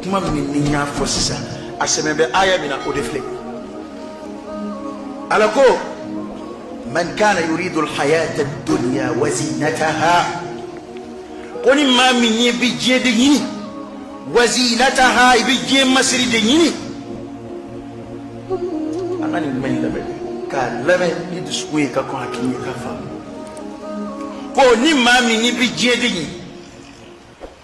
kuma min ni n y'a fɔ sisan a sɛmɛn bɛ aya min na o de filɛ ala ko man kana yuridu alhayata ad-dunya wa zinataha ko ni maa min bi diɲɛ de ɲini wa zinataha i bi diɲɛ masiri de ɲini an ka nin kuma in lamɛn k'a lamɛn ni dusukun ye ka kɔn hakili ye k'a faamu ko ni maa min bi diɲɛ de ɲini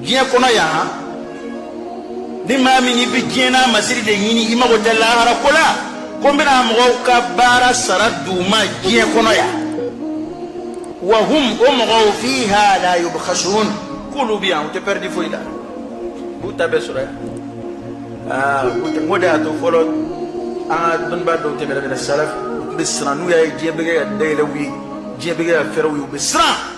diɲɛ kɔnɔ yan ni maa min i bɛ diɲɛ n'a masiri de ɲini i mago tɛ lahara ko la ko n bɛna mɔgɔw ka baara sara d'u ma diɲɛ kɔnɔ yan wa hum o mɔgɔw fiha la yubkhasun k'olu bɛ yan u tɛ pɛridi foyi la u b'u ta bɛɛ sɔrɔ yan aa n k'o de y'a to fɔlɔ an ka dɔnnibaa dɔw tɛmɛna mina salaf u tun bɛ siran n'u y'a ye diɲɛ bɛ kɛ ka dayɛlɛ u ye diɲɛ bɛ kɛ ka fɛrɛ u ye u bɛ siran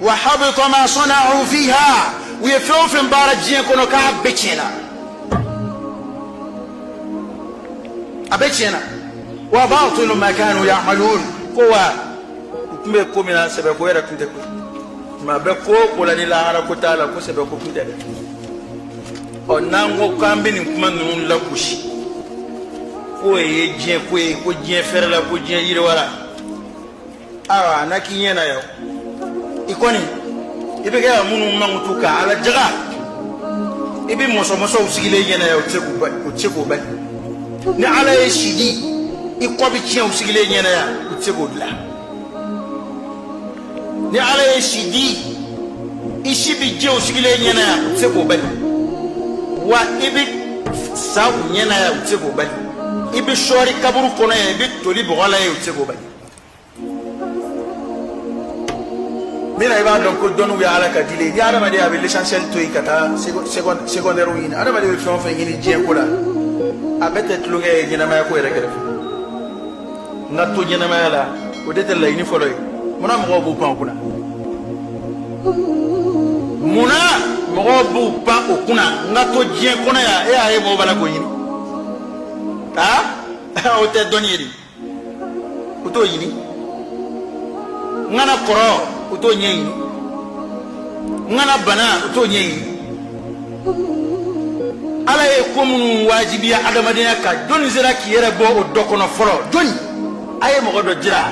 wa habita ma sana'u fiha u ye fɛn o fɛn baara diɲɛ kɔnɔ k'a bɛɛ tiɲɛna a bɛɛ tiɲɛna wa batilu ma kanu ya'malun ko wa u tun bɛ ko min na sɛbɛ ko yɛrɛ tun tɛ ko maa bɛ ko o ko la ni lahara ko t'a la ko sɛbɛ ko tun tɛ dɛ ɔ n'an ko k'an bɛ nin kuma ninnu lagosi k'o ye diɲɛ ko ye ko diɲɛ fɛrɛla ko diɲɛ yiriwala awa na k'i ɲɛ na yɔ i kɔni i bɛ kɛ ka minnu mankutu ka ala jaga i bɛ mɔsɔmɔsɔ u sigilen i ɲɛ na yan u tɛ se k'o bali ni ala ye si di i kɔ bɛ tiɲɛ u sigilen i ɲɛ na yan u tɛ se k'o dilan ni ala ye si di i si bɛ jɛ u sigilen i ɲɛ na yan u tɛ se k'o bali wa i bɛ sa u ɲɛ na yan u tɛ se k'o bali i bɛ sɔɔri kaburu kɔnɔ yan i bɛ toli bɔgɔ la yan u tɛ k'o bali. min na i b'a dɔn ko dɔnniw ye ala ka dile ni adamaden a bɛ l'essentiel to yen ka taa secondaire ɲini adamaden bɛ fɛn o fɛn ɲini diɲɛ ko la a bɛɛ tɛ tulonkɛ ye ɲɛnamaya ko yɛrɛ kɛrɛfɛ n ka to ɲɛnamaya la o de tɛ laɲini fɔlɔ ye munna mɔgɔw b'u pan o kunna munna mɔgɔw b'u pan o kunna n ka to diɲɛ kɔnɔ yan e y'a ye mɔgɔw b'a la k'o ɲini aa o tɛ dɔnni ye dɛ u t'o ɲini n kana kɔrɔ u t'o ɲɛɲini n kana bana u t'o ɲɛɲini ala ye ko minnu wajibiya adamadenya kan jɔnni sera k'i yɛrɛ bɔ o dɔ kɔnɔ fɔlɔ jɔnni a ye mɔgɔ dɔ jira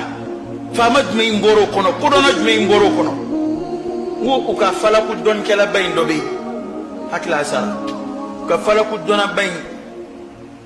faama jumɛn in bɔr'o kɔnɔ kodɔnna jumɛn in bɔr'o kɔnɔ n ko u ka falaku dɔnnikɛlaba in dɔ bɛ yen hakili la a sara u ka falaku dɔnnaba in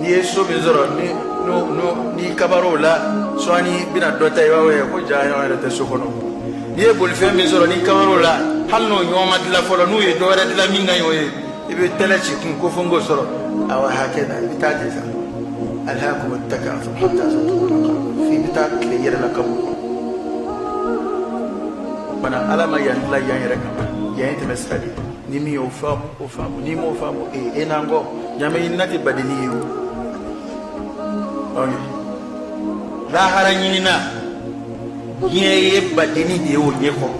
n'i ye so min sɔrɔ ni n'o n'o n'i kabar'o la sɔɔni i bɛna dɔ ta i b'a ye ko jaa ɲɔgɔn yɛrɛ tɛ so kɔnɔ n'i ye bolifɛn min sɔrɔ n'i kabar'o la hali n'o ɲɔgɔn ma dilan fɔlɔ n'u ye dɔ wɛrɛ dilan min ka ɲi o ye i bɛ tɛlɛ ci kun ko fo n k'o sɔrɔ awa hakɛ na i bɛ taa de sa alhakumu takathur hatta zurtum f'i bɛ taa tila i yɛrɛ la kaburu kɔnɔ banna ala ma yan dilan yan yɛrɛ kama yan ye tɛmɛ sira de ye ni min y'o faamu o faamu n'i m'o faamu ee e n'an ko ɲamɛ ɲinina tɛ badeni ye o lahara ɲinina diɲɛ ye badeni de ye o ɲɛ kɔrɔ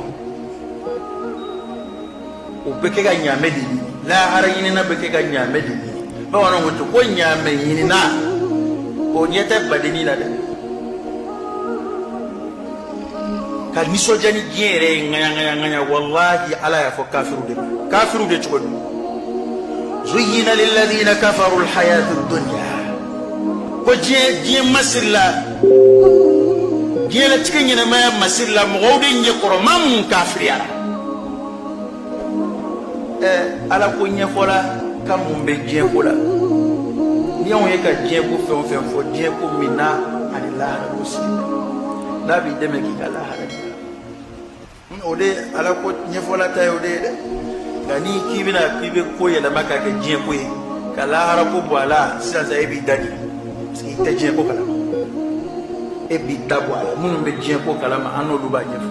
o bɛ kɛ ka ɲamɛ de ɲini lahara ɲinina bɛ kɛ ka ɲamɛ de ɲini bamananw ko ten ko ɲamɛ ɲinina o ɲɛ tɛ badeni la dɛ ka nisɔndiya ni diɲɛ yɛrɛ ye ŋaɲaŋaɲaŋaɲa walahi ala y'a fɔ kafiriw de ma kafiriw de cogo di zuyina lilladina kafaru alhayatu dunya ko diɲɛ diɲɛ masirila diɲɛlatigɛ ɲɛnamaya masirila mɔgɔw de ɲɛ kɔrɔ maa mun kafiriyara ɛ ala ko ɲɛfɔla ka mun bɛ diɲɛ ko la ni anw ye ka diɲɛ ko fɛn o fɛn fɔ diɲɛ ko min na ani lahara ko sigi n'a b'i dɛmɛ k'i ka lahara dilan o de ala ko ɲɛfɔla ta ye o de ye dɛ nka n'i k'i bɛna k'i bɛ ko yɛlɛma k'a kɛ diɲɛ ko ye ka lahara ko bɔ a la sisan sa e b'i dade parce que i tɛ diɲɛ ko kalama e b'i da bɔ a la minnu bɛ diɲɛ ko kalama an n'olu b'a ɲɛfɔ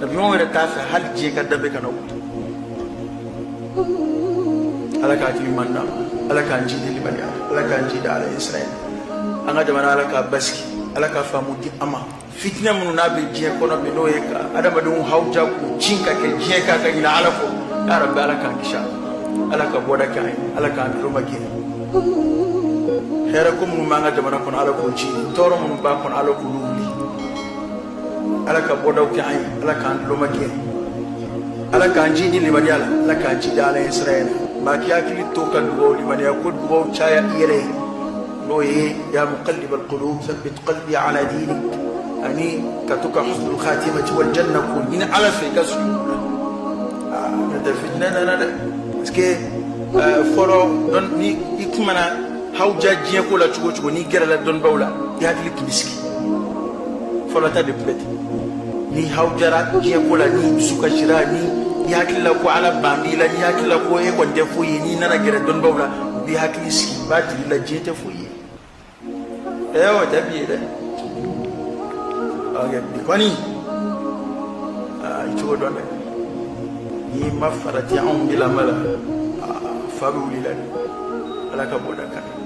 ɲɔgɔn wɛrɛ t'a fɛ hali diɲɛ ka danbe kana o ala k'a hakili ɲuman d'a ma ala k'an jidi limaniya ala k'an jidi ala ɲɛsiranɲɛ an ka jamana ala k'a basigi ala ka faamu di an ma fitinɛ minnu n'a bɛ diɲɛ kɔnɔ bi n'o ye ka adamadenw hawuja k'u cin ka kɛ diɲɛ kan ka ɲinɛ ala kɔ ya rabi ala k'an kisi a ala ka bɔda kɛ an ye ala k'an tulomagɛn hɛrɛ ko minnu b'an ka jamana kɔnɔ ala k'o ci tɔɔrɔ minnu b'a kɔnɔ ala k'olu wuli ala ka bɔdaw kɛ an ye ala k'an tulomagɛn ala k'an jidi limaniya la ala k'an jidi ala ɲɛsiranɲɛ maa k'i hakili to ka dugaw limaniya ko dugaw caya i yɛrɛ ye n'o ye ya muqallib alqulub thabbit qalbi ala dinik ani ka to ka husnul khatimati wal janna ko ɲini ala fɛ i ka sujud la n'o tɛ fitinɛ nana dɛ parce que fɔlɔ ni i tun mana hawuja diɲɛko la cogo o cogo n'i gɛrɛla dɔnnibaw la i hakili tun bɛ sigi fɔlɔ ta de tun bɛ ten n'i hawujara diɲɛ ko la n'i dusu kasira ni i hakili la ko ala ban b'i la n'i hakili la ko e kɔni tɛ foyi ye n'i nana gɛrɛ dɔnnibaw la u b'i hakili sigi u b'a jira i la diɲɛ tɛ foyi ye ɛɛ o tɛ bi ye dɛ ɔkɛ bi kɔni aa i cogo dɔn dɛ n'i ma farati anw de lamɛn la aa fa bɛ wuli i la dɛ ala ka bɔ da kan